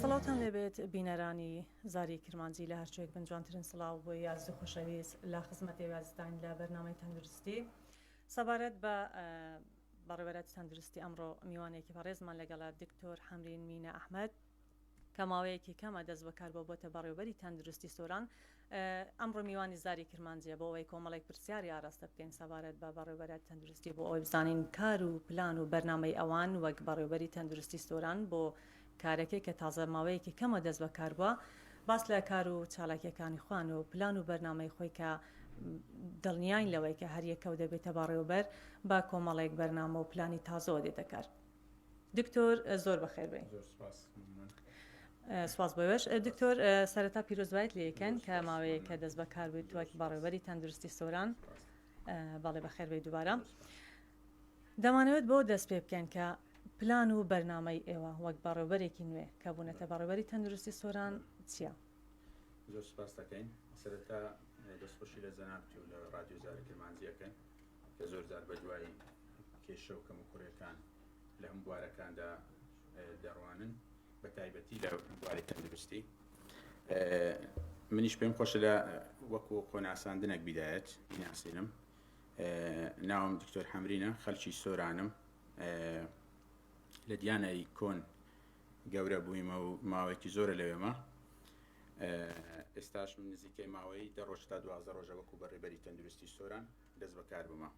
سڵاوتان لێبێت بینەرانی زاری کرمانجی لە هەرچێک بن جوانترین سڵاو بۆ یازی خۆشەویست لە خزمەت وازداین لە بەرنامەی تەندروستی سەبارەت بە بەڕێوەرەتی تەندروستی ئەمڕۆ میوانێکی بەڕێزمان لەگەڵا دکتۆر حەمرین مینە ئەحمد کە ماوەیەکی کەمە دەست بەکار بۆ بۆتە بەڕێوبەری تەندروستی سۆران ئەمڕۆ میوانی زاری کرمانجیە بۆ ئەوەی کۆمەڵێک پرسیاری ئاراستە بکەین سەبارەت بە بەڕێوبەرە تەندروستی بۆ ئەوەی بزانین کار و پلان و بەرنامەی ئەوان وەک بەڕێوبەری تەندروستی سۆران بۆ کارەکەی کە تازە ماوەیەکی کەمە دەست بە کار بوە باس لە کار و چالاکیەکانی خۆیان و پلان و بەرنامەی خۆی کە دڵنیاین لەوەی کە هەر یەکەو دەبێتە بەڕێوبەر بە کۆمەڵێک بەرنامە و پلانی تازەوە دێتە کار. دکتۆر زۆر بەخێر بێی. زۆر سپاس ممنون. سواز بۆێش دکتۆر سەرەتا پیرۆزبایت لەکەن کە ماوەیە کە دەست بەکار بوویت وەک بەڕێوەری تەندروستی سۆران بەڵێ بەخێر بێ دووبارە دەمانەوێت بۆ دەست پێ بکەن کە پلان و بەرنمەی ئێوە وەک بەڕێوبەرێکی نوێ کە بوونەتە بەڕێوەری تەندروستی سۆران چییە؟ زۆر سپاس دەکەین سەرەتا دەستخۆشی لە جەنابت و لە ڕادیۆزارە کرمانجیەکەن کە زۆر جار بە دوای کێشە و کەموکوڕیەکان لە هەموو بوارەکاندا دەڕوانن بە تایبەتی لە بواری تەندروستی منیش پێم خۆشە لە وەکو خۆناساندنەک بیدایەت بیناسینم ناوم دکتۆر حەمرینە خەلکی سۆرانم لە دیانایی کۆن گەورە بوویمە و ماوەیەکی زۆرە لەوێمە ئێستاش من نزیکەی ماوەی دە ڕۆژ تا دوازە ڕۆژە وەکو بەڕێبەری تەندروستی سۆران دەست بەکار بمە.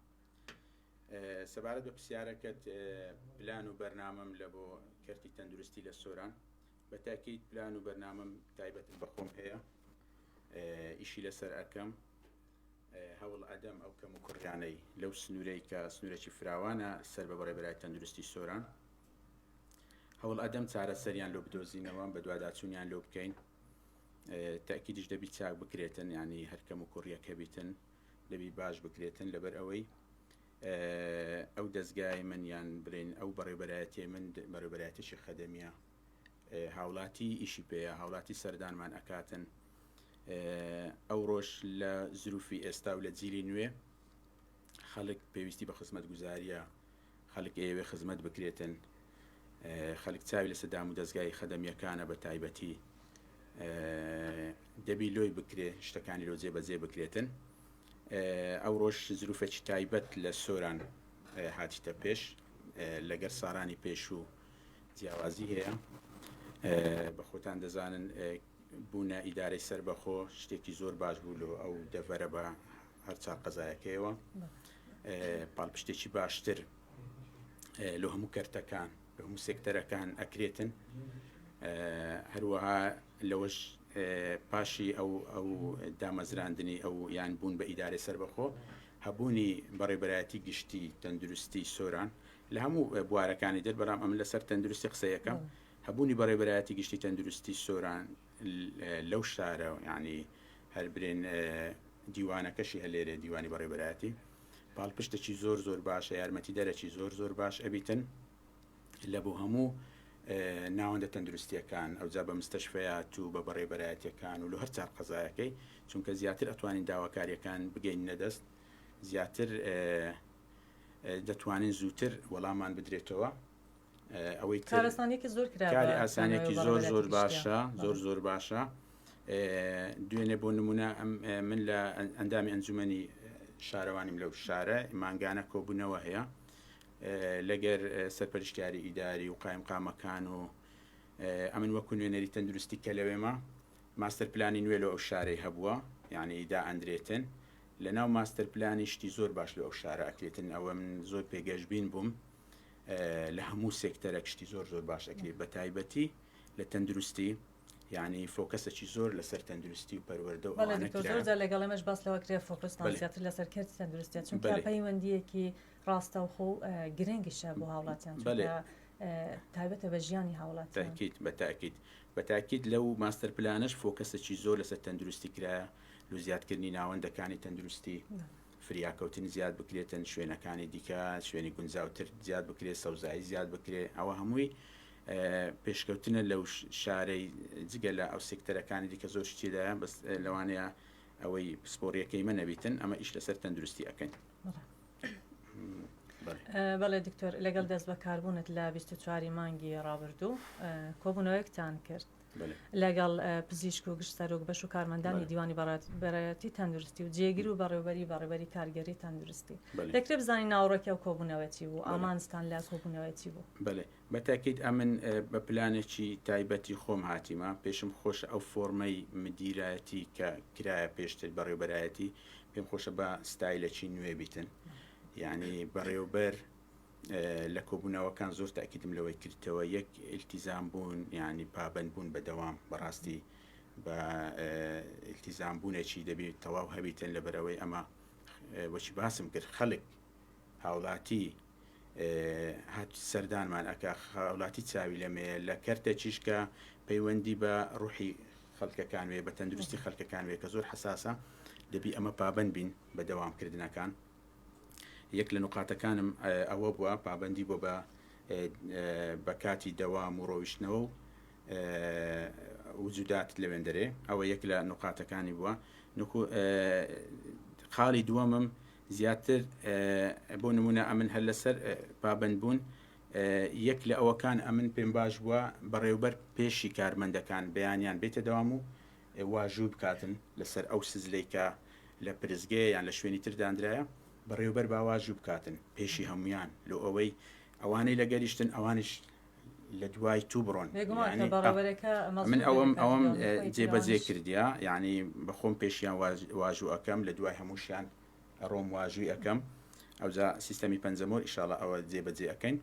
سەبارەت بە پرسیارەکەت پلان و بەرنامەم لە بۆ کەرتی تەندروستی لە سۆران بە تاکیت پلان و بەرنامەم تایبەتم بەخۆم هەیە ئیشی لەسەر ئەەکەم هەوڵ ئەدەم ئەو کەم و کوڕیانەی لەو سنوورەی کە سنوورەی فراوانە سەر بە بەڕێبرای تەندروستی سۆران هەوڵ ئەدەم چارەسەریان لۆ بدۆزینەوە بە دوواداچوونیان لۆ بکەین تاکیدش دەبی چاک بکرێتن ینی هەرکەم و کوڕیەکە بیتن دەبی باش بکرێتن لەبەر ئەوەی ئەو دەزگای من یان برێن ئەو بەڕێبەرایەتی من بەڕێبەرایەتیی خەدەمیە هاوڵاتی ئیشی پێەیە هاوڵاتی سەردانمان ئەکاتن ئەو ڕۆژ لە زروفی ئێستا و لە جیلی نوێ خەڵک پێویستی بە خزمەت گوزاریە خەلک ئەیەوێ خزمەت بکرێتن خەلک چاوی لەسە دامو دەزگای خەدەمیەکانە بەتایبەتی دەبی لۆی بکرێ شتەکانی لۆ جێ بەجێ بکرێتن ئەوڕۆش زروفێکی تایبەت لە سۆران هاتیتە پێش لەگەر سارانی پێشوو جیاوازی هەیە بە خۆتان دەزانن بوونە ئیدارەی سەربەخۆ شتێکی زۆر باش بوو لۆ ئەو دەڤەرە بە هەر چار قەزایەکەیەوە پاڵپشتێکی باشتر لۆ هەموو کەرتەکان لە هەموو سێکتەرەکان ئەکرێتن هەروەها لەوەش پاشی ئەو ئەو دامەزراندنی ئەو یان بوون بە ئیدارەی سەربەخۆ هەبوونی بەڕێبەرایەتی گشتی تەندروستی سۆران لە هەموو بوارەکانی دەر بەرام ئەم لەسەر تەندروستی قسەیەکەم. بله. هەبوونی بە ڕێبەرایەتی گشتی تەندروستی سۆران لەو شارە یعنی هەر برێن دیوانەکەشی هە لێرێ دیوانی بە ڕێبەرایەتی پاڵپشتێکی زۆر زۆر باشە یارمەتی دەرەکی زۆر زۆر باش ئەبیتن لە بۆ هەموو ناوەندە تەندروستیەکان ئەوجا بە مستەشفەیات و بە بەڕێبەرایەتەکان و لە هەر چار قەزایەکەی چونکە زیاتر ئەتوانین داواکاریەکان بگەین نەدەست زیاتر دەتوانین زووتر وەڵامان بدرێتەوە ئەوەی کارستانێکی زۆر کاری ئاسانێکی زۆر زۆر باشە زۆر زۆر باشە دوێنێ بۆ نمونە من لە ئەندامی ئەنجومی شارەوانیم لەو شارە مانگانە کۆبوونەوە هەیە لەگەر سەرپەرشتیاری ئیداری و قایم قامەکان و ئەمن وەکو نوێنەری تەندروستی کە لەوێمە ماستەر پلانی نوێ لە ئەو شارەی هەبووە یعنی دا ئەندرێتن لە ناو ماستەر پلانی شتی زۆر باش لە ئەو شارە ئەکرێتن ئەوە من زۆر پێگەشببین بووم لە هەموو سێکتەرە کشتی زۆر زۆر باش ئەکرێت بە تایبەتی لە تەندروستی یعنی فۆکەسەکی زۆر لەسەر تەندروستی و پەروەەردە و لەگەڵ ئەمەش باس لەوە کرێ فۆکسناسیاتر لەسەر کرد تەندروستیان چون پەیوەندیەکی ڕاستەوخۆ و گرنگیشە بۆ هاوڵاتیان تایبەتە بە ژیانی هاوڵات تاکیت بە تاکیت بە تاکیت لەو ماستەر پلانش فۆکەسەکی زۆر لەسەر تەندروستی کرایە لە زیادکردنی ناوەندەکانی تەندروستی فریاکەوتن زیاد بکرێتن شوێنەکانی دیکە شوێنی گونجاو تر زیاد بکرێت سەوزایی زیاد بکرێت ئەوە هەمووی پێشکەوتنە لەو شارەی جگە لە ئەو سکتەرەکانی دیکە زۆر شتیدا بەس لەوانەیە ئەوەی پسپۆریەکەی منە بیتن ئەمە ئیش لەسەر تەندروستی ئەەکەین بەڵێ دکتۆر لەگەڵ دەست بەکاربوونت لە 24 مانگی ڕابردوو کۆبوونەوەیەکتان کرد لەگەڵ پزیشک و گشت سەرۆک بەش و کارمەندانی دیوانی بەڕێتی تەندروستی و جێگر و بەڕێوبەری بەڕێبەری کارگەری تەندروستی دەکرێت بزانین ناوڕۆکی ئەو کۆبوونەوەتی بوو ئامانستان لە کۆبوونەوەتی بوو بەێ بەتاکیت ئەمن بە پلانێکی تایبەتی خۆم هاتیمە پێشم خۆش ئەو فۆرمەی مدیرایەتی کە کرایە پێشتر بەڕێوبەرایەتی پێم خۆشە بە ستایلەکی نوێ بیتن یعنی بەڕێوبەر لە کۆبوونەوەکان زۆر تاکیدم لەوەی کردەوە یەک التیزام بوون یعنی پابەند بوون بە دەوام بەڕاستی بە التیزام بوونێکی دەبێت تەواو هەبیتن لەبەرەوەی ئەمە وەچی باسم کرد خەڵک هاوڵاتی هات سەردانمان ئەک خاولاتی چاوی لەمەیە لە کەرتە چیشکە پەیوەندی بە ڕوحی خەڵکەکان وێ بە تەندروستی خەڵکەکان وێ کە زۆر حساسە دەبی ئەمە پابند بین بە دەوامکردنەکان یەک لە نوقاتەکانم ئەوە بوە پابەندی بۆ بە بە کاتی دەوام و ڕۆیشتنەوە و وجودات لەوێندەرێ ئەوە یەک لە نوقاتەکانی بوە نکو خاڵی دووەمم زیاتر بۆ نمونە ئەمن هەر لەسەر پابند بوون یەک لە ئەوەکان ئەمن پێم باش بووە بەڕێوبەر پێشی کارمەندەکان بەیانیان بێتە دەوام و واژوو بکاتن لەسەر ئەو سزلەی کە لە پرسگەیە یان لە شوێنی تر دانرایە، بەڕێوبەر با واژوو بکاتن پێشی هەموویان لۆ ئەوەی ئەوانەی لەگەریشتن ئەوانیش لە دوای توو بڕۆن. یانی من ئەوەم ئەوەم جێبەجێ کردیە، یانی بە خۆم پێشیان واژوو ئەکەم لە دوای هەمووشیان ئەڕۆم واژووی ئەکەم، ئەوجا سیستەمی پەنجەمۆر ئیشاڵا ئەوە جێبەجێ ئەکەین.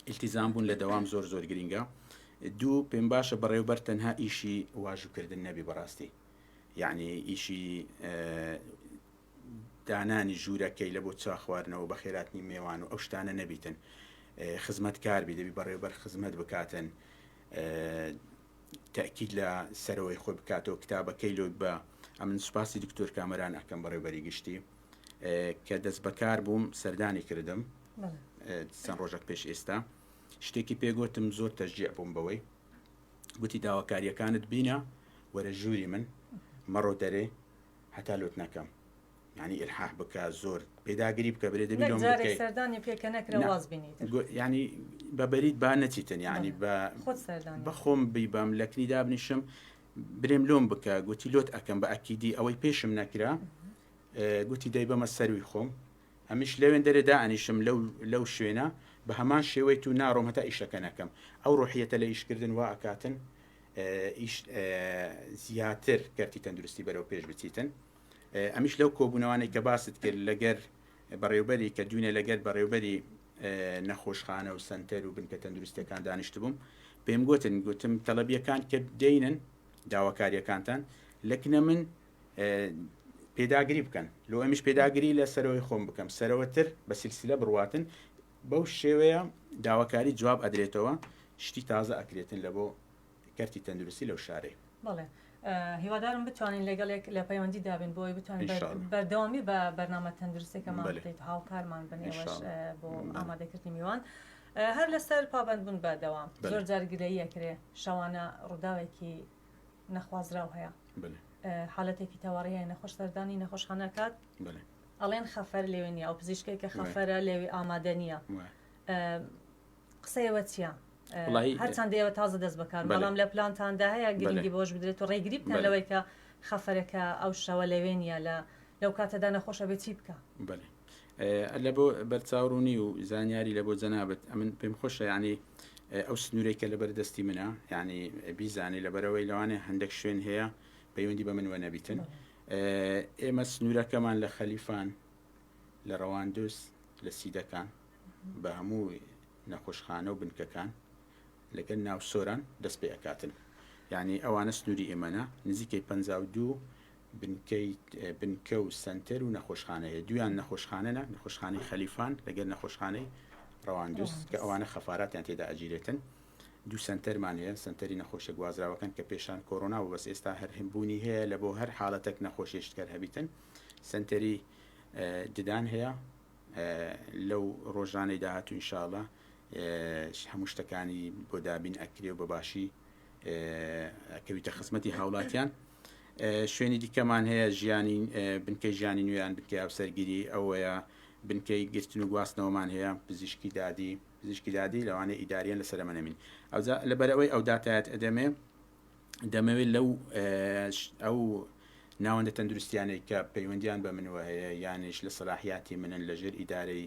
ئیلتیزام بوون لە دەوام زۆر زۆر گرینگە دوو پێم باشە بەڕێوبەر تەنها ئیشی واژوکردن نەبی بەڕاستی یعنی ئیشی دانانی ژوورەکەی لە بۆ چا خواردنەوە بە خێراتنی مێوان و ئەو شتانە نەبیتن خزمەت کار بی دەبی بەڕێوبەر خزمەت بکاتن تاکیید لە سەرەوەی خۆی بکاتەوە کتابەکەی لۆی بە ئەمن سوپاسی دکتۆر کامەران ئەەکەم بەڕێوبەری گشتی کە دەست بەکار بووم سەردانی کردم چەند ڕۆژێک پێش ئێستا شتێکی پێگوتم زۆر تەژجیع بووم بەوەی گوتی داواکاریەکانت بینە وەرە ژووری من مەڕۆ دەرێ هەتا لوت نەکەم ینی ئرحاح بکە زۆر پێداگری بکە برێ دەبی سەردانی پێکە نەکرە واز بینیت ینی بە بەریت با نەچیتن ینی بە بەخۆم بیبم لە کنی دابنیشم برێم لۆم بکە گوتی لۆت ئەەکەم بە ئەکیدی ئەوەی پێشم نەکرا گوتی دەیبەمە سەرووی خۆم، ئەمیش لەوێن دەرێ دائەنیشم لەو لەو شوێنە بە هەمان شێوەی تو ناڕۆم هەتا ئیشەکە نەکەم، ئەو ڕۆحیەتە لە ئیشکردن وا ئەکاتن ئیش زیاتر کەرتی تەندروستی بەرەو پێش بچیتن ئەمیش لەو کۆبوونەوانەی کە باست کرد لەگەر بەڕێوبەری کە دوینە لەگەر بەڕێوبەری نەخۆشخانە و سنتەر و بنکە تەندروستەکان دانیشت بووم پێم گوتن گوتم تەلبیەکان کە دێنن داواکاریەکانتان لەکنە من پێداگری بکەن لۆ ئەمیش پێداگری لە سەرەوەی خۆم بکەم سەرەوەتر بە سلسلە بڕواتن بەو شێوەیە داواکاری جواب ئەدرێتەوە شتی تازە ئەکرێتن لە بۆ کەرتی تەندروستی لەو شارەی بڵێ هیوادارم بتوانین لەگەڵێک لە پەیوەندی دابین بۆی بتوانین بەردەوامی بە بەرنامە تەندروستێکەمان بدەیت هاوکارمان بنێوەش بۆ ئامادەکردنی میوان. هەر لەسەر پابندبوون بەدەوام زۆر جارگلەیەکرێ شەوانە ڕووداوێکی نەخوازراو هەیە حالەتێکی تەوەڕیە نەخۆش سەردانی نەخۆشخانەکات ئەڵێن خەفەر لێوێ نیە ئەو پزیشکێک کە خەفەرە لێوی ئامادە نییە قسەیەوە چیە؟ هەرچەند ئێوە تازە دەست بەکار بەڵام لە پلانتاندا هەیە گرنگی بۆش بدرێت و ڕێگری بکە لەوەی کە خەفەرەکە ئەو شەوە لەوێ نیە لە لەو کاتەدا نەخۆشە بێ چی بکە اللە بۆ بەرچاو ڕوونی و زانیاری لە بۆ جەنابت ئەمن پێم خۆشە ینی ئەو سنوورێک کە لەبەر دەستی منە ینی بیزانانی لەبەرەوەی لەوانێ هەندێک شوێن هەیە پەیوەندی بە من وە نەبیتن ئێمە سنوورەکەمان لە خەلیفان لە ڕەواندوس لە سیدەکان بە هەموو نەخۆشخانە و بنکەکان لەگەل ناو سۆران دەست پێ ئەکاتن یعنی ئەوانە سنووری ئێمەە نزیکەی 52 بنکەی بنکە و سەنتەر و نەخۆشخانە هەیە، دوویان نەخۆشخانەنە، نەخۆشخانەی خەلیفان لەگەر نەخۆشخانەی ڕەواندز کە ئەوانە خەفاراتیان تێدا ئەگیرێتن، دوو سەنتەرمان هەیە، سەنتەری نەخۆشە گوازراوەکان کە پێشان کۆرۆنا بوو بەس ئێستا هەر هەم بوونی هەیە لە بۆ هەر حالەتەک نەخۆشێشت کەر هەبیتن، سەنتەری ددان هەیە لەو ڕۆژانەی داهاتوو ان شاء اللە هەموو شتەکانی بۆ دابین ئەکرێ و بە باشی کەویتە خزمەتی هاوڵاتیان شوێنی دیکەمان هەیە ژیانی بنکەی ژیانی نوێیان بنکەی هاوسەرگیری ئەوەیە بنکەی گرتن و گواستنەوەمان هەیە پزیشکی دادی پزیشکی دادی لەوانە ئیداریان لە سەرمەنەمین ئەوجا لەبەرەوەی ئەو داتایەت ئەدەمێ دەمەوێت لەو ئەو ناوەندە تەندروستیانەی کە پەیوەندیان بە منوە هەیە یانش لە سەلاحیاتی منن لەژێر ئیدارەی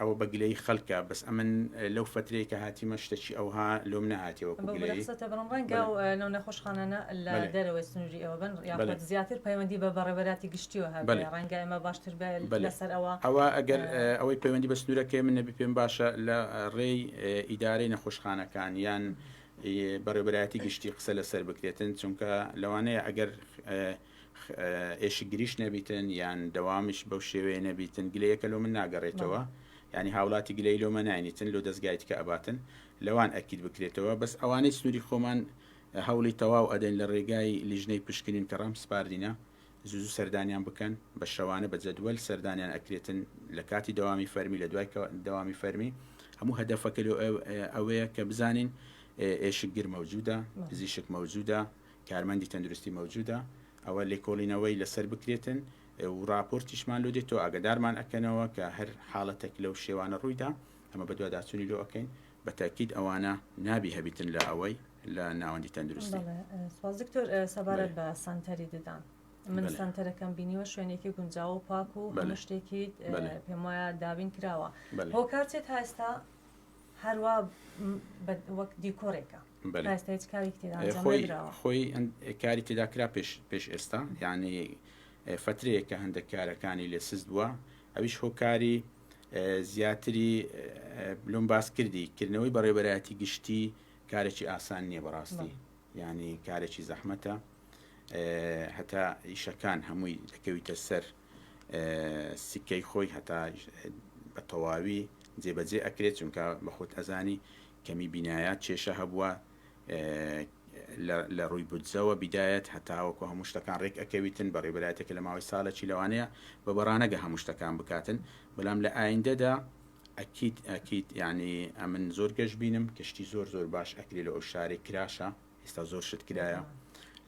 ئەوە بە گلەیی خەلکە بەس ئەمن لەو فەترەی کە هاتیمە شتەکی ئەوها لۆم نەهاتیە وەکو گلەیی. بەو رخسەتە بڵێم رەنگە و نەو نەخۆشخانانە لە دەرەوەی سنوری ئێوە بن یاخود زیاتر پەیوەندی بە بەڕێوەراتی گشتیەوە هەبێ رەنگە ئێمە باشتر بێ لەسەر ئەوە. ئەوە ئەگەر ئەوەی پەیوەندی بە سنورەکەی من نەبی پێم باشە لە رێی ئیدارەی نەخۆشخانەکان یان بەڕێوەبەرایەتی گشتی قسە لەسەر بکرێتن چونکە لەوانەیە ئەگەر ئێشکگریش نەبیتن یان دەوامیش بەو شێوەیە نەبیتن گلەیەکە لۆ من ناگەڕێتەوە ینی هاوڵاتی گلەی لۆمە ناینیتن لۆ دەستگای تکە ئەباتن لەوان ئەکیت بکرێتەوە بەس ئەوانەی سنووری خۆمان هەوڵی تەواو ئەدەین لە ڕێگای لیژنەی پشکنین کە ڕام سپاردینە زوزو سەردانیان بکەن بە شەوانە بە جەدوەل سەردانیان ئەکرێتن لە کاتی دەوامی فەرمی لە دوای دەوامی فەرمی هەموو هەدەفەکە لۆ ئەوەیە کە بزانین ئێشکگر مەوجودە پزیشک مەوجودە کارمەندی تەندروستی مەوجودە ئەوە لێکۆڵینەوەی لەسەر بکرێتن و ڕاپۆرتیشمان لۆ دێتۆ ئاگەدارمان ئەکەنەوە کە هەر حاڵەتەک لەو شێوانە ڕوویدا ئەمە بەدواداچونی لۆ ئەکەین بەتاکید ئەوانە نابی هەبیتن لە ئەوەی لە ناوەندی تەندروستی. بەڵێ سپاس دکتۆر سەبارەت بە سەنتەری ددان من سەنتەرەکەم بینیوە شوێنێکی گونجاو و پاک و هەموو شتێکی پێم وایە دابین کراوە هۆکار چیە تا ئێستا هەروا وەک دیکۆرێکە خۆی کاری تێدا کرا پێش ئێستا یعنی فترەیە کە هەندێک کارەکانی لێ سست بووە ئەویش هۆکاری زیاتری بلوم باس کردی کردنەوەی بەڕێبەرایەتی گشتی کارێکی ئاسان نییە بەڕاستی ینی کارێکی زەحمەتە هەتا ئیشەکان هەمووی دەکەویتە سەر سکەی خۆی هەتا بە تەواوی جێبەجێ ئەکرێت چونکە بەخۆت ئەزانی کەمی بینایە کێشە هەبووە لە ڕووی بودجەوە بیدایەت هەتاوەکو هەموو شتەکان ڕێک ئەکەویتن بە ڕێبرایەتێکە لە ماوەی ساڵێکی لەوانەیە بە بەڕانەگە هەموو شتەکان بکاتن بەڵام لە ئایندەدا ئەکییت ئەکییت یعنی ئەمن زۆر گەشت بینم کەشتی زۆر زۆر باش ئەکری لە ئەو شارێک کراشە ئێستا زۆر شت کرایە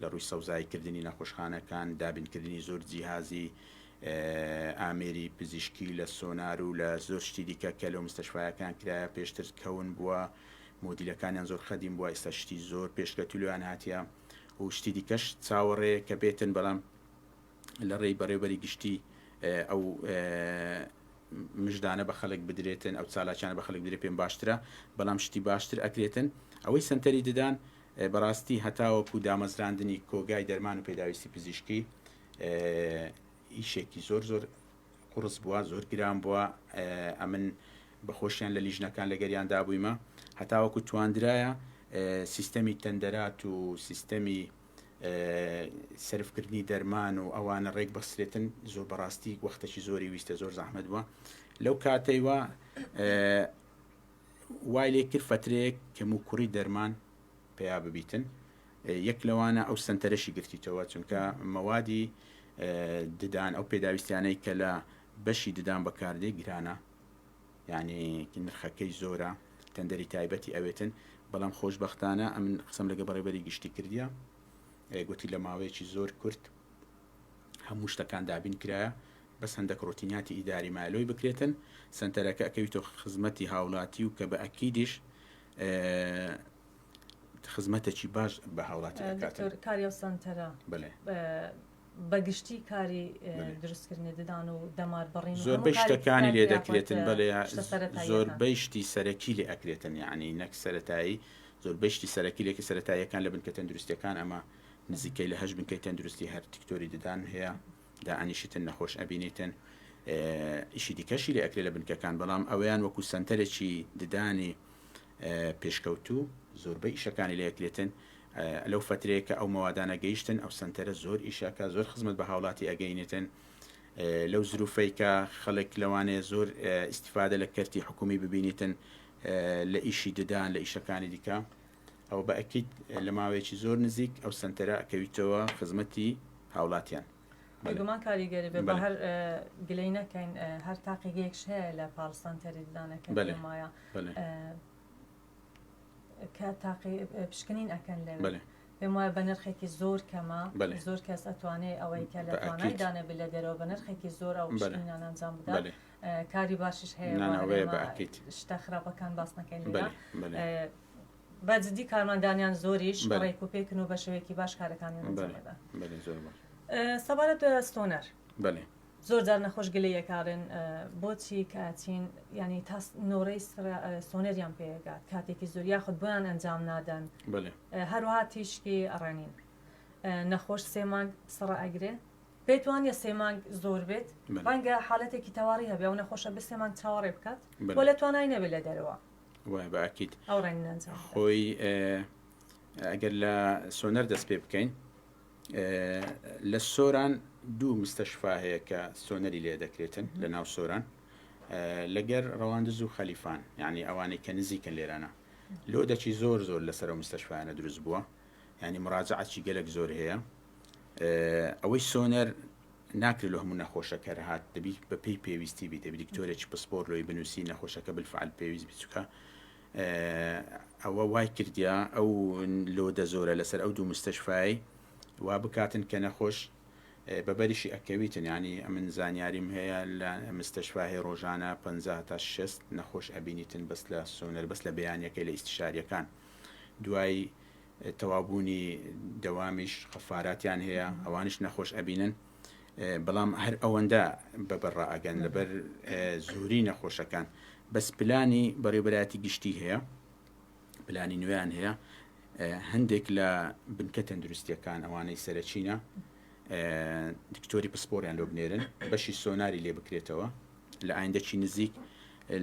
لە ڕووی سەوزایی کردنی نەخۆشخانەکان دابینکردنی زۆر جیهازی ئامێری پزیشکی لە سۆنار و لە زۆر شتی دیکە کە لەو مستەشفاەکان کرایە پێشتر کەون بووە مدیلەکانیان زۆر خەدیم بووە ئێستا شتی زۆر پێشکەتولیان هااتە و شتی دیکەش چاوەڕێ کە بێتن بەڵام لە رێی بەڕێوبەری گشتی ئەو مژدانە بە خەلک بدرێتن ئەو چالاکیانە بە خەلک بدرێت پێم باشترە بەڵام شتی باشتر ئەکرێتن ئەوەی سەنتەری ددان بەڕاستی هەتاوەکو دامەزراندنی کۆگای دەرمان و پێداویستی پزیشکی ئیشێکی زۆر زۆر قڕس بووە زۆر گران بووە ئەمن بەخۆشیان لە لیژنەکان لەگەریان دابوویمە هەتاوەکو تواندرایە سیستەمی تەندەرات و سیستەمی سەرف کردنی دەرمان و ئەوانە ڕێک بەسرێتن زۆر بەڕاستی وەختەکی زۆری ویستە زۆر زەحمت بووە لەو کاتەیوە وای لێ کرد فترەیەک کەم و کوڕی دەرمان پیا ببیتن یەک لەوانە ئەو سنتەرەشی گرتیتەوە چونکە مەوادی ددان ئەو پێداویستیانەی کە لە بەشی ددان بەکاردێ گرانە یانی نرخەکەی زۆرە تەندەری تایبەتی ئەوێتن بەڵام خۆشبەختانە ئەمن قسەم لەگە بەڕێبەری گشتی کردیە گوتی لە ماوەیەکی زۆر کورت هەموو شتەکان دابین کرایە بەس هەندەک ڕۆتینیاتی ئیداری مالۆی بکرێتن سنتەرەکە ئەکەویتۆ خزمەتی هاوڵاتی و کە بە ئەکیدیش خزمەتەکی باش بە هاوڵاتی ئەکات. دکتۆر کاری ئەو سەنتەرە بە گشتی کاری دروستکردنی ددان و دەمار بڕین زۆربەی شتەکانی لێ دەکرێتن بەێ زۆربەی شتی سەرەکی لێ ئەکرێتن یعنی نەک سەتایی زۆربەی شتی سەرەکی لێکی سەتاییەکان لە بنکە تەندروستەکان ئەمە نزیکەی لە هەش بنکەی تەندروستی هەر تکتۆری ددان هەیە داعانیشتن نەخۆش ئەبینیتن ئیشی دیکەشی لە ئەکرێ لە بنکەکان بەڵام ئەویان وەکو سنتەرێکی ددانی پێشکەوتوو زۆربەی ئیشەکانی لە یەکلێتن لەو فەترەیە کە ئەو مەوادانە گەیشتن ئەو سنتەرە زۆر ئیشەکە زۆر خزمەت بە هاوڵاتی ئەگەینێتن لەو زروفەی کە خەڵک لەوانەیە زۆر ئیسیفادە لە کەرتی حکومی ببینیتن لە ئیشی ددان لە ئیشەکانی دیکە ئەو بەئەکییت لە ماوەیەکی زۆر نزیک ئەو سنتەرە ئەکەویتەوە خزمەتی هاوڵاتیان بێگومان کاریگەری بێ بە هەر گلەی نەکەین هەر تاقیگەیەکش هەیە لە پاڵستان تەری ددانەکە مایە کە تاقی پشکنین ئەەکەن لە پێم وایە بە نرخێکی زۆر کەمە زۆر کەس ئەتوانێت ئەوەی کە لە توانای دانێ بلە دەرەوە بە نرخێکی زۆر ئەو پشکنینان ئەنجام بدات کاری باشش هەیە شتە خراپەکان باس نەکەین بە جدی کارمەندانیان زۆریش بەلێ. ڕێک و پێکن و بە شێوەیەکی باش کارەکانیان ئەنجام بەلێ ئەدەن. بەلێ زۆر باش. سەبارەت بە ستۆنەر. بەلێ. زۆر جار نەخۆش گلەی ئەکاڵێن بۆچی کاتین یانی تا نۆرەی سرە ستۆنەریان پێ ئەگات کاتێکی زۆر یاخود بۆیان ئەنجام نادەن. بەلێ. هەروەها تیشکی ڕێنین نەخۆش سێ مانگ سڕە ئەگرێ پێت وانیە سێ مانگ زۆر بێت بەلێ. ڕەنگە حالەتێکی تەواڕی هەبێ ئەو نەخۆشە بێ سێ مانگ چاوەڕێ بکات بەلێ. و لە توانای نەبێ لە دەرەوە وای بە ئەکید ئەو ڕێنگ نەنجام بدات. خۆی ئێ، ئەگەر لە سۆنەر دەست پێ بکەین ئێ، لە سۆران دوو مستەشفا هەیە کە سۆنەری لێ دەکرێتن لە ناو سۆران ئێ، لەگەر ڕەواندز و خەلیفان یعنی ئەوانەی کە نزیکە لێرانە لۆ دەچی زۆر زۆر لەسەر ئەو مستەشفایانە دروست بووە یعنی مراجعەتی گەلەک زۆر هەیە ئێ، ئەوەی سۆنەر ناکرێت لۆ هەموو نەخۆشە کەر هات دەبی بە پێی پێویستی بی دەبی دکتۆرێکی پسپۆر لۆی بنووسی نەخۆشەکە بالفعل پێویست بی چکە ئەوە وای کردیا ئەو لۆ دەزۆرە لەسەر ئەو دوو مستەشفای وا بکاتن کە نەخۆش بە بەریشی ئەکەویتن ینی ئەمن زانیاریم هەیە لە مستەشفاهەیە ڕۆژانە 50 تا 6 نەخۆش ئەبینیتن بەس لە سۆنەر بەس لە بیانەکەی لە ئیسشاریەکان دوای تەواوبوونی دەوامیش خەفاراتیان هەیە ئەوانیش نەخۆش ئەبینن بەڵام هەر ئەوەندە بەبەر ڕائگەن لەبەر زۆری نەخۆشەکان بەس پلانی بەڕێبەراتی گشتی هەیە پلانی نوێیان هەیە هەندێک لە بنکە تەندروستیەکان ئەوانەی سەرچینە دکتۆری پسپۆریان لۆ بنێرن بەشی سۆناری لێ بکرێتەوە لە ئایندەکی نزیک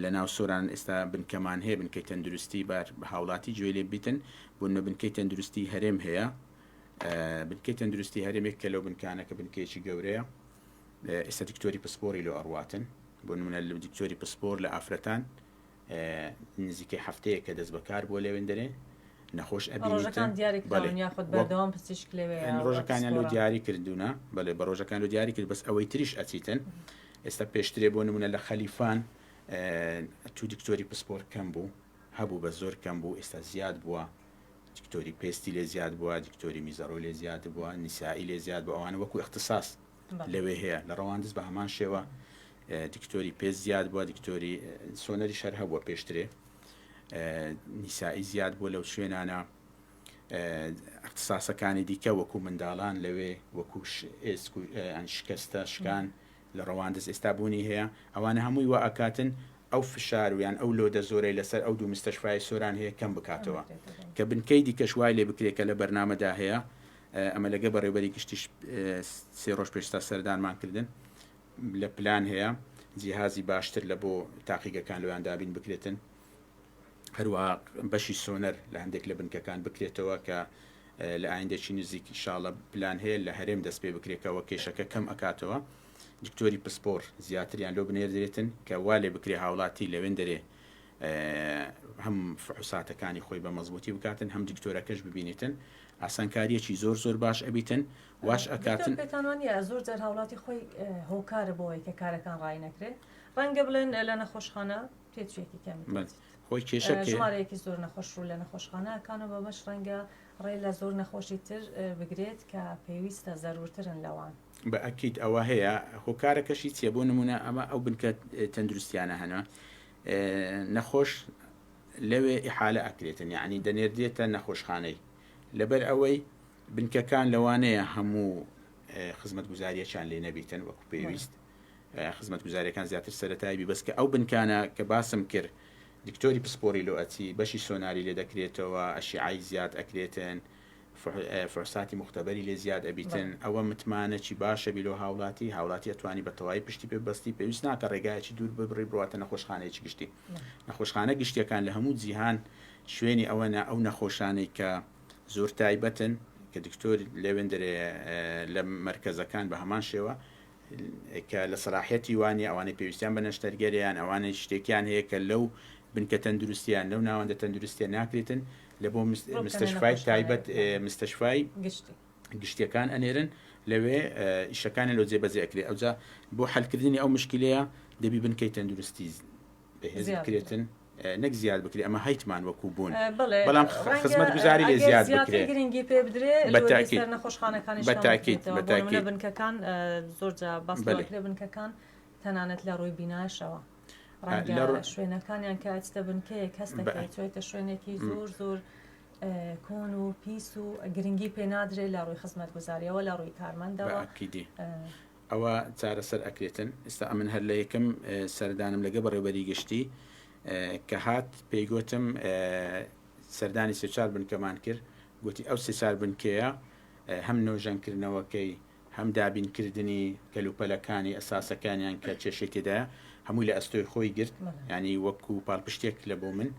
لە ناو سۆران ئێستا بنکەمان هەیە بنکەی تەندروستی بار بە هاوڵاتی جوێ لێ بیتن بوونە بنکەی تەندروستی هەرێم هەیە بنکەی تەندروستی هەرێمێک کە لەو بنکانەکە بنکەیەکی گەورەیە ئێستا دکتۆری پسپۆری لۆ ئەڕواتن بۆ نمونە لە دکتۆری پسپۆر لە ئافرەتان نزیکەی هەفتەیەکە دەستبەکار بووە لەوێن دەرێ نەخۆش ئەبینیتن ڕۆژەکان دیاری کراون یاخود بەڵێ وە بەردەوام پزیشک لەوێیە ئەم ڕۆژەکانیان لۆ پسپۆڕە. دیاری کردوونە بەلێ بە ڕۆژەکان لۆ دیاری کرد بەس ئەوەی تریش ئەچیتن ئێستا پێشترێ بۆ نموونە لە خەلیفان ئە، چوو دکتۆری پسپۆر کەم بوو هەبوو بەس زۆر کەم بوو ئێستا زیاد بووە دکتۆری پێستی لێ زیاد بووە دکتۆری میزەڕۆی لێ زیاد بووە نیسائی لێ زیاد بووە ئەوانە وەکوو ئیختساس لەوێ هەیە لە ڕەواندز بە هەمان شێوە دکتۆری پێ زیاد بووە دکتۆری سۆنەری شەر هەبووە پێشترێ نیسایی زیاد بووە لەو شوێنانە اختصاسەکانی دیکە وەکو منداڵان لەوێ وەکو شکستە شکان لە ڕەواندز ئێستا بوونی هەیە ئەوانە هەمووی وە ئەکاتن ئەو فشارویان ئەو لۆدە زۆرەی لەسەر ئەو دوو مستەشفای سۆران هەیە کەم بکاتەوە کە بنکەی دیکەش وای لێ بکرێت کە لە بەرنمەدا هەیە ئەمە لەگەڵ بەڕێوبەری گشتیش سێ ڕۆژ پێشستا سەردانمان کردن لە پلان هەیە جیهازی باشتر لە بۆ تاقیگەکان لەوان دابین بکرێتن هەروە بەشی سۆنەر لە هەندێک لە بنکەکان بکرێتەوە کە لە ئایندەکی نزیک شاڵە پلان هەیە لە هەرێم دەست پێ بکرێتەوە کێشەکە کەم ئەکاتەوە دکتۆری پسپۆر زیاتریان لۆ بنێردرێتن کە وا لێ بکرێ هاوڵاتی لەوێن دەرێ هەم فحوساتەکانی خۆی بە مەزبوتی بکاتن هەم دکتۆرەکەش ببینێتن ئاسانکاریەکی زۆر زۆر باش ئەبیتن واش ئەکاتن. دکتۆر پێتان وانیە زۆر جار هاوڵاتی خۆی هۆکارە بۆوەی کە کارەکان ڕایی نەکرێ ڕەنگە بڵێن لە نەخۆشخانە پێچێکی کەمی بەس خۆی کێشە کێ؟ ژمارەیەکی زۆر نەخۆش ڕوو لە نەخۆشخانە ئەکان و بەمەش ڕەنگە ڕێ لە زۆر نەخۆشی تر اه، بگرێت کە پێویستە زەرورترن لەوان بە ئەکید ئەوە هەیە هۆکارەکەشی چیە بۆ نمونە ئەمە ئەو بنکە تەندروستیانە هەنا اه، نەخۆش لەوێ ئیحالە ئەکرێتن یەعنی دەنێردرێتە نەخۆشخانەی لەبەر ئەوەی بنکەکان لەوانەیە هەموو خزمەتگوزاریەکیان لێ نەبیتن وەکو پێویست خزمەتگوزاریەکان زیاتر سەرەتایی بی بەس کە ئەو بنکانە کە باسم کرد دکتۆری پسپۆری لۆ ئەچی بەشی سۆناری لێ دەکرێتەوە ئەشیعای زیاد ئەکرێتن فحساتی موختەبەری لێ زیاد ئەبیتن ئەوە متمانەچی باش ئەبی لۆ هاوڵاتی هاوڵاتی ئەتوانی بە تەوای پشتی پێ بەستی پێویست ناکە ڕێگایەکی دوور ببڕی بڕواتە نەخۆشخانەیەکی گشتی نەخۆشخانە گشتیەکان لە هەموو جیهان شوێنی ئەوەنە ئەو نەخۆشانەی کە زۆر تایبەتن کە دکتۆر لەوێندرێ لە مرکزەکان بە هەمان شێوە کە لە سەلاحیەتی وا نیە، ئەوانەی پێویستیان بە نەشتەرگەرە یان ئەوانەی شتێکیان هەیە کە لەو بنکە تەندروستیە یان لەو ناوەندە تەندروستیە ناکرێتن لە بۆ مستەشفای تایبەت مستەشفای گشتی گشتیەکان ئەنێرن لەوێ ئیشەکانی لۆ جێبەجێ ئەکرێ ئەوجا بۆ حەلکردنی ئەو مشکلەیە دەبی بنکەی تەندروستی بەهێز بکرێتن نەک زیاد بکرێ ئەمە هەیتمان وەکو بوون بەڵام خزمەت گوزاری لێ زیاد بکرێت گرنگی پێ بدرێ بەتاکی نەخۆشخانەکانی بەتاکی بەتاکی بنکەکان زۆر جا باس لێ بنکەکان تەنانەت لە ڕووی بیناشەوە ڕەنگە شوێنەکانیان کە ئەچتە بنکەیە کەس دەکەێت چێتە شوێنێکی زۆر زۆر کۆن و پیس و گرنگی پێ نادرێت لە ڕووی خزمەت گوزاریەوە لە ڕووی کارمەندەوە ئەوا چارەسەر ئەکرێتن ئیستا ئەمن هەر لەیەکەم سەردانم لەگە بەڕێوبەری گشتی کە هات پێی گۆتم سەردانی سێچار بنکەمان کرد گوتی ئەو سێچار بنکەیە هەم نۆژەن کردنەوەکەی هەم دابین کردنی کەلوپەلەکانی ئەساسەکانیان کە چێشی تێدا هەمووی لە ئەستۆی خۆی گرت ینی وەکو پاڵپشتێک لە بۆ من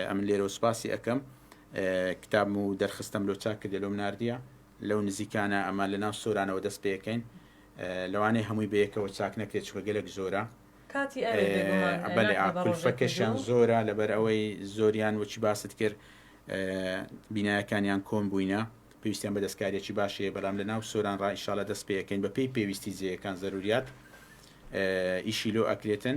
ئەمن لێرە سوپاسی ئەەکەم کتاب و دەرخستم لۆ چاک کردێ لۆم نردە لەو نزیکانە ئەمە لەناو سۆرانەوە دەست پێکەین لەوانەیە هەمووی بەیەکەوە چاک نەکرێت چونکە گەلەک زۆرە کاتی ئەوێ بێگومان ئەه بەلێ ناکا بە ڕۆژێک کولفەکەشیان کردو زۆرە لەبەر ئەوەی زۆریان وەکی باست کرد ئه بینایەکانیان کۆن بووینە پێویستیان بە دەستکاریەکی باش هەیە بەلام لەناو سۆران ڕا ئیشاڵە دەست پێ ئەکەین بەپێی پێویستی جێیەکان زەروریات ئه ئیشی لۆ ئەکرێتن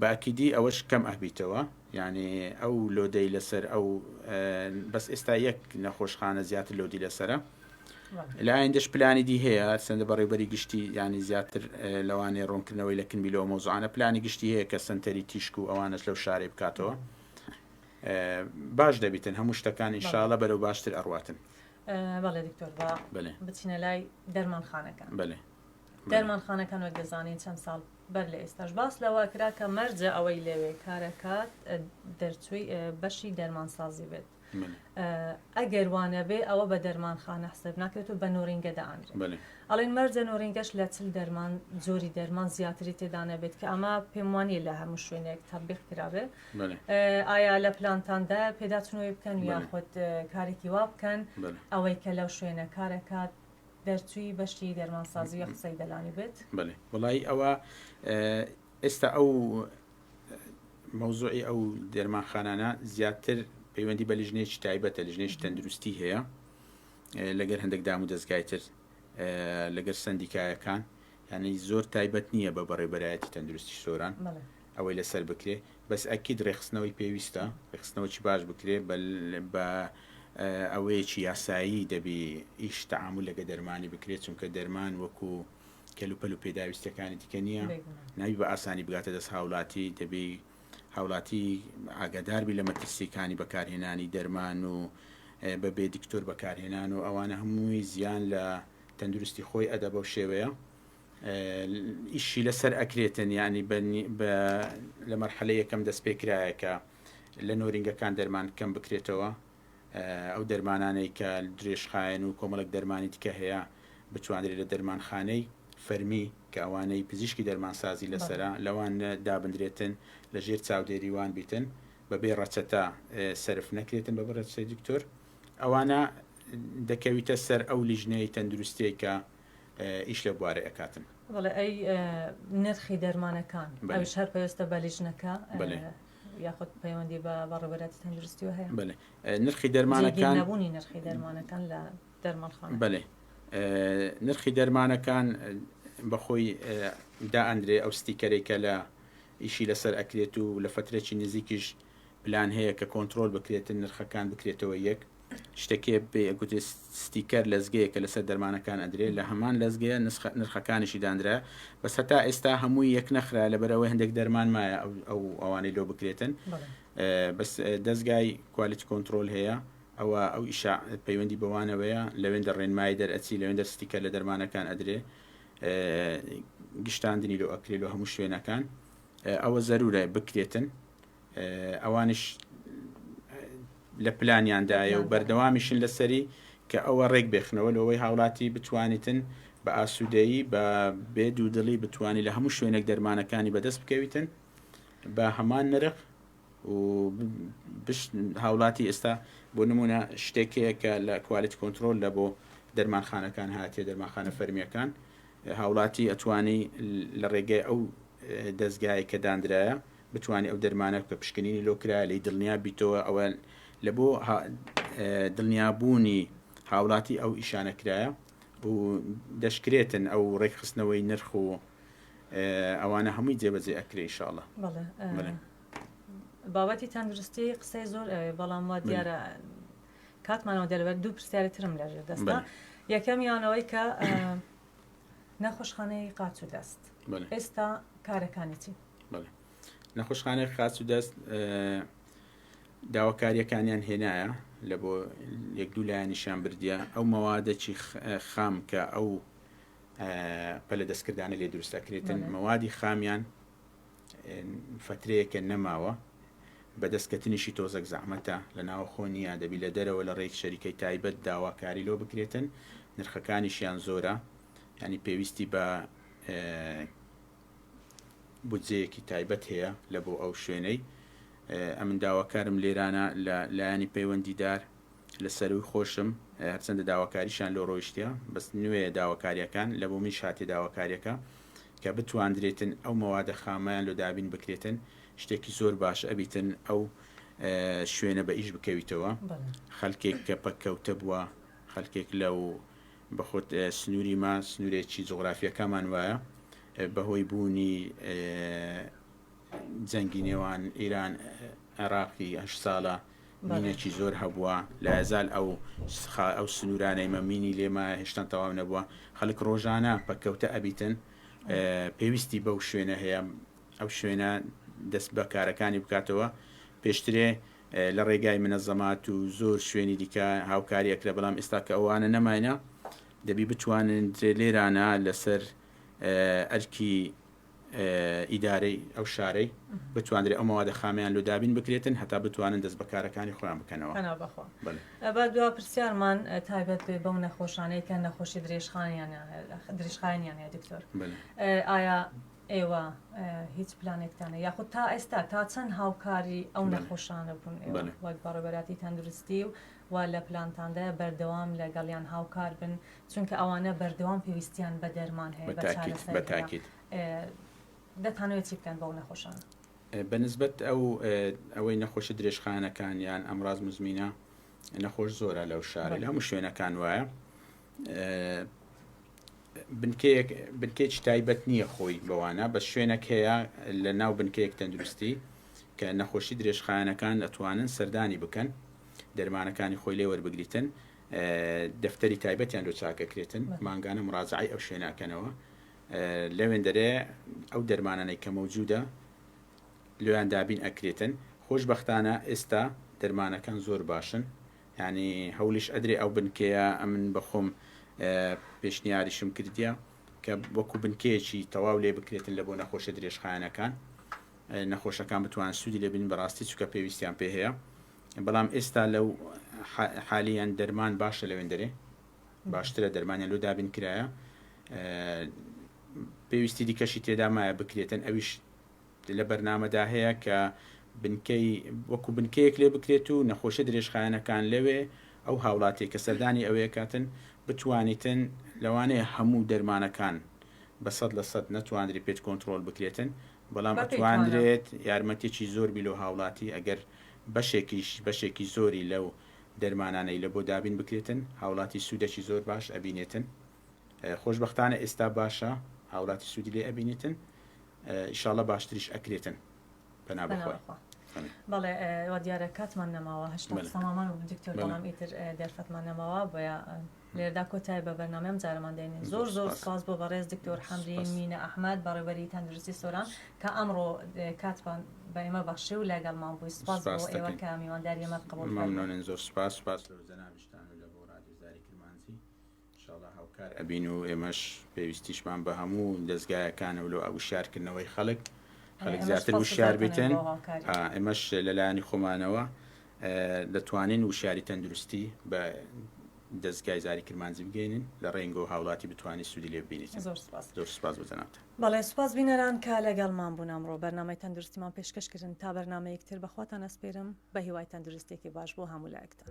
بە ئەکیدی ئەوەش کەم ئەهبیتەوە یانی ئەو لۆدەی لەسەر ئەو بەس ئێستا یەک نەخۆشخانە زیاتر لۆدی لەسرە لایەن دەش پلانی دی هەیە سندە بەڕێبەری گشتی ینی زیاتر لەوانێ ڕوونکردنەوەی لە کنبی لەوە مۆزانە پلانی گشتی هەیە کە سنتەری تیشک و ئەوانش لەو شارێ بکاتەوە باش دەبیتن هەموو شتەکان ئینشاالە بەرەو باشتر ئەڕاتن بەڵێ دکتۆر بچینە لای دەرمانخانەکە بەێ دەرمانخانەکان وەک دەزانین چەند ساڵ بەر لە ئێستاش باس لەوە کرا کە مەرجە ئەوەی لەوێ کارەکات دەرچووی بەشی دەرمانسازی بێت ئەگەر وانە بێ ئەوە بە دەرمانخانە حسب ناکرێت و بە نۆرینگە دەانرێت ئەڵین مەرجە نۆرینگەش لە چل دەرمان زۆری دەرمان زیاتری تێدانە بێت کە ئەمە پێم وانە لە هەموو شوێنێک تەبیق کرابێت ئایا لە پلانتاندا پێداچنەوەی بکەن یاخود کارێکی وا بکەن ئەوەی کە لەو شوێنە کارەکات دەرچووی بەشی دەرمانسازی وە قسەی دەلانی بێت. بەلێ وەڵایی ئەوە ئێستا ئەو مەوزوعی ئەو دەرمانخانانە زیاتر پەیوەندی بە لیژنێکی تایبەتە لیژنێکی تەندروستی هەیە لەگەر هەندێک دام و دەستگای تر لەگەر سندیکایەکان ینی زۆر تایبەت نییە بە بەڕێبەرایەتی تەندروستی سۆران ئەوەی لەسەر بکرێ بەس ئەکید ڕێکخستنەوەی پێویستە ڕێکخستنەوەی باش بکرێ بە ئەوەیەکی یاسایی دەبی ئیش تەعامل لەگە دەرمانی بکرێت چونکە دەرمان وەکو کەلوپەل و پێداویستەکانی دیکە نییە ناوی بە ئاسانی بگاتە دەست هاولاتی دەبی هاوڵاتی ئاگاداربی لە مەترسیەکانی بەکارهێنانی دەرمان و بە بێ دکتۆر بەکارهێنان و ئەوانە هەمووی زیان لە تەندروستی خۆی ئەدە بەو شێوەیە ئیشی لەسەر ئەکرێتن یعنی لە مەرحلە یەکەم دەست پێ کرایە کە لە نۆرینگەکان دەرمان کەم بکرێتەوە ئەو دەرمانانەی کە درێژخایەن و کۆمەڵک دەرمانی دیکە هەیە بتوانرێت لە دەرمانخانەی فەرمی کە ئەوانەی پزیشکی دەرمانسازی لەسرە لەوان دابدرێتن لە ژێر چاودێریوان بیتن بەبێ ڕەچەتە سرف نەکرێتن بە بڕێت سەی دکتۆر ئەوانە دەکەویتە سەر ئەو لیژنەی تەندروستێکە ئیش لەو بوارە ئەکاتن. بەڵێ ئەی نرخی دەرمانەکان ئەوش هەر پەیوەستە بە لیژنەکە یاخود پەیوەندی بە وەڕێبەراتی تەندروستیەوە هەیە بەێ نرخی دەرمانەکان نەبوونی نرخی دەرمانەکان لە دەرمانخان بەێ نرخی دەرمانەکان بەخۆی دا ئەندرێ ئەو ستیکەرێکە لە ئیشی لەسەر ئەکرێت و لە فترێکی نزیکیش پلان هەیە کە کۆنترۆل بکرێتن نرخەکان بکرێتەوە یەک شتەکێ پێی ئەگوترێ ستیکەر لەزگەیە کە لەسەر دەرمانەکان ئەدرێ لە هەمان لەزگەیە نسخە نرخەکانیشی داندرا بەس هەتا ئێستا هەمووی یەک نەخرا لەبەر ئەوەی هەندێک دەرمان مایە ئەو ئەوانەی لۆ بکرێتن بەس دەزگای کوالیتی کۆنترۆل هەیە ئەوە ئەو ئیشا پەیوەندی بەوانەوەیە لەوێن دە ڕێنمای دەرئەچی لەوێن دەر ستیکەر لە دەرمانەکان ئەدرێ گشتاندنی لۆ ئەکرێ لۆ هەموو شوێنەکان ئەوە زەرورە بکرێتن ئەوانش لە پلانیاندایە و بەردەوامیشن لەسەری کە ئەوە ڕێک بێخنەوە لەوەی هاوڵاتی بتوانیتن بە ئاسوودەیی بە بێ دوودڵی بتانی لە هەموو شوێنێک دەرمانەکانی بەدەست بکەویتن بە هەمان نرخ و بش هاولاتی ئێستا بۆ نمونە شتێک هەیە کە لە کوالیت کۆنترۆل لە بۆ دەرمانخانەکان هاتیە دەرمانخانە فەرمیەکان هاوڵاتی ئەتوانی لە ڕێگەی ئەو دەستگایە کە دانرایە بتوانانی ئەو دەرمانە بکە پشکنینی لۆکرا لی دڵنیا بیتەوە ئەوە لە بۆ دڵنیابوونی هاوڵاتی ئەو ئیشانە کرایە و دەشکرێتن ئەو ڕێکخستنەوەی نرخ و ئەوانە هەمووی جێبەجێ ئەکرێ ئیشاڵا. بابەتی تەندروستی قسەی زۆر ئەوێ بەڵام وا دیارە کاتمانەوە دەربەر دوو پرسیاری ترم لەژێر دەستە یەکەمیانەوەی کە نەخۆشخانەی قاچ و دەست ئێستا کارەکانی چی نەخۆشخانەی خاچ و دەست داواکاریەکانیان هێنایە لە بۆ یەک دوو لایەنیشان بردە ئەو مەوادەی خام کە ئەو پەلە دەستکردانە لێ دروست ئەکرێتن مەوادی خامیان فترەیەکە نەماوە بەدەستکەتنیشی تۆزەک زەحمەتە لە ناوە خۆ نیە دەبی لە دەرەوە لە ڕێک شەریکەی تایبەت داواکاری لۆ بکرێتن نرخەکانیشیان زۆرە ینی پێویستی بە بودجەیەکی تایبەت هەیە لە بۆ ئەو شوێنەی ئەمن داواکارم لێرانە لە لایەنی پەیوەندیدار لە سەرووی خۆشم هەرچەندە داواکاریشیان لۆ ڕۆیشتیە بەس نوێیە داواکاریەکان لە بۆ منیش هاتیە داواکاریەکە کە بتواندرێتن ئەو مەوادە خامەیان لۆ دابین بکرێتن شتێکی زۆر باش ئەبیتن ئەو شوێنە بە ئیش بکەویتەوە خەلکێک کە پەککەوتە بووە خەلکێک لە و بەخۆت سنووری ما سنوورێکی جغرافیەکەمان وایە بەهۆی بوونی جەنگی نێوان ئیران عێراقی هەش ساڵە مینێکی زۆر هەبووە لە ئەزال ئەو سخا ئەو سنوورانەی مە مینی لێما هێشتان تەواو نەبووە خەڵک ڕۆژانە پەککەوتە ئەبیتن پێویستی بەو شوێنە هەیە ئەو شوێنە دەست بە کارەکانی بکاتەوە پێشترێ لە ڕێگای منەزەمات و زۆر شوێنی دیکە هاوکاری ئەکرە بەڵام ئێستا کە ئەوانە نەماینە دەبی بتوانن درێ لێرانە لەسەر ئەرکی ئیدارەی ئەو شارەی بتواندرێ ئەو مەوادە خامەیان لۆ دابین بکرێتن هەتا بتوانن دەست بە کارەکانی خۆیان بکەنەوە. پەنا بەخوا. بەلێ. با دوا پرسیارمان تایبەت بێ بەو نەخۆشانەی کە نەخۆشی درێژخایەنیان هەیە درێژخایەنیان هەیە دکتۆر بەلێ. ئایا ئێوە هیچ پلانێکتانە یاخود تا ئێستا تا چەند هاوکاری ئەو بەلێ. نەخۆشانە بوون ئێوە بەلێ. وەک بەڕێوەبەراتی تەندروستی و و لە پلانتاندایە بەردەوام لە گەڵیان هاوکار بن چونکە ئەوانە بەردەوام پێویستیان بە دەرمان هەیە بە چارەسەر هەیە دەتانەوێت چی بکەن بەو نەخۆشانە؟ بە نسبەت ئەو ئەوەی نەخۆشە درێژخانەکان یان ئەمڕاز مزمینە نەخۆش زۆرە لەو شارە لە هەموو شوێنەکان وایە بنکەیەک بنکێکی تایبەت نییە خۆی بەوانە بە شوێنەک هەیە لە ناو بنکەیەک تەندروستی کە نەخۆشی درێژخانەکان ئەتوانن سەردانی بکەن دەرمانەکانی خۆی لێ وەربگریتن دەفتەری تایبەتیان لۆ چاکەکرێتن مانگانە مراجعی ئەو شوێناکەنەوە لەوێندەرێ ئەو دەرمانانەی کە مەوجودە لۆیان دابین ئەکرێتن خۆشببختانە ئێستا دەرمانەکان زۆر باشن ینی هەولیش ئەدرێ ئەو بنکەیە ئەمن بەخۆم پێشنیاریشم کردیە کە وەکو بنکەیەکی تەواو لێ بکرێتن لە بۆ نەخۆشە درێژخایەنەکان نەخۆشەکان بتوان سوودی لێبین بەڕاستی چکە پێویستیان پێ هەیە بەڵام ئێستا لەو حالیان دەرمان باشە لەوێندەرێ باشترە دەرمانیان لۆ دابین کرایە پێویستی دیکەشی تێدا مایە بکرێتن ئەویش لە بەرنمەدا هەیە کە بنکەی وەکو بنکەیەک لێ بکرێت و نەخۆشە درێژخایەنەکان لەوێ ئەو هاوڵاتی کە سەردانی ئەوەیە کاتن بتوانیتن لەوانەیە هەموو دەرمانەکان بە سەد لە سەد نەتواندری پێت کۆنتترۆل بکرێتن بەڵام ئەتواندرێت یارمەتیەکی زۆر بیلۆ هاوڵاتی ئەگەر بەشێکیش بەشێکی زۆری لەو دەرمانانەی لەبۆ دابین بکرێتن هاوڵاتی سودەکی زۆر باش ئەبینێتن خۆشبەختانە ئێستا باشە هاوڵاتی سودی لێ ئەبینیتن ئیشاڵە باشتریش ئەکرێتن پەنا بەخوا بەڵێ وە دیارە کاتمان نەماوە هەشتا سەمامان و دکتۆر بەڵام ئیتر دەرفەتمان نەماوە بۆە لێرەدا کۆتای بە بەرنامەی ئەم جارەمان دێنین زۆر زۆر سوپاس بۆ بەڕێز دکتۆر حەمدی مینە ئەحمەد بەڕێوەبەری تەندروستی سۆران کە ئەمڕۆ کاتتان بە ئێمە بەخشی و لەگەڵمان بووی سوپاس بۆ ئێوە کە میوانداری ئێمە قبوڵ کردن مەمنونین زۆر سوپاس سوپاس لۆ جەنابیشتان و لە بۆ ڕادیۆ زاری کرمانجی ان شاء اللە هاوکار ئەبین و ئێمەش پێویستیشمان بە هەموو دەزگایەکانە و لۆ وشیارکردنەوەی خەڵک خەڵک زیاتر وشیار بیتن ئێمەش لەلایەنی خۆمانەوە دەتوانین وشیاری تەندروستی بە دەستگای زاری کرمانجی بگەینین لە ڕێنگۆ هاوڵاتی بتوانانی سوودی لێ بینیت زۆر سپاس زۆر سپاس بۆ جەنابت بەڵێ سپاس بینەران کە لەگەڵمان بوون ئەمڕۆ بەرنامەی تەندروستیمان پێشکەشکردن تا بەرنامەیەکتر بەخواتان ئەسپێرم بە هیوای تەندروستێکی باش بۆ هەموو لایەکتان.